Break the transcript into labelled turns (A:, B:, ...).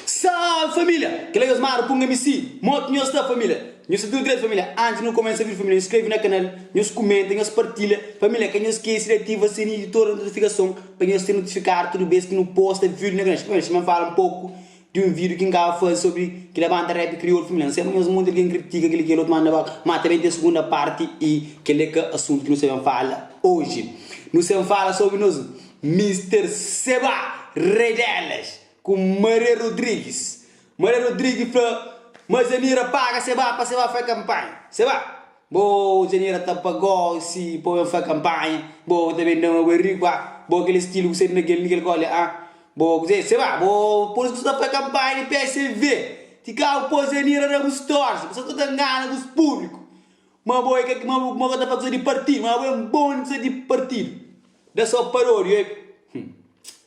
A: Salve família! Kel la nhos mara punga mi si mot nhos ta família Nhos ta tudu dretu família Antis nu kumesa vídiu família nhos skrebe na kanal Nhos kumenta nhos partilha família Ka nhos skese di ativa sininhu di toda notifikason Pa nhos ser notifikadu tudu bes ki nu posta vídiu na kanal Família sima N fala un poku Di un vídiu ki N kaba faze sobri ki labanta rap kriolu fimilanu. Seba nhos monti algen kritika kel-li kel otu, má N ta ba mata ben ten sugunda párti i kel-li é ka asuntu ki nu sta ben fala oji. Nu sta ben fala sobri nos Mister Seba, rei delas, ku Maria Rodrigues. Maria Rodrigues fla, Mas ami ra paga Seba pa Seba fai kanpanha. Seba. Bo genera ta pa gosi po ben fa kanpanha Bo ta ben da-m agu é riku ah Bo kel estilu ku sedu na kel nikel kole ah Bo kuzê sê ba Bo pô-s ku ta fa kanpanha di PSV Ti ka bu pô genera da bu stória Bu sa ta ngana bus públiku Ma bo é ka ma bu ma bu ka ta fa kuza di partidu Ma bu é un bon di kuza di partidu Da so paródia ê Hum.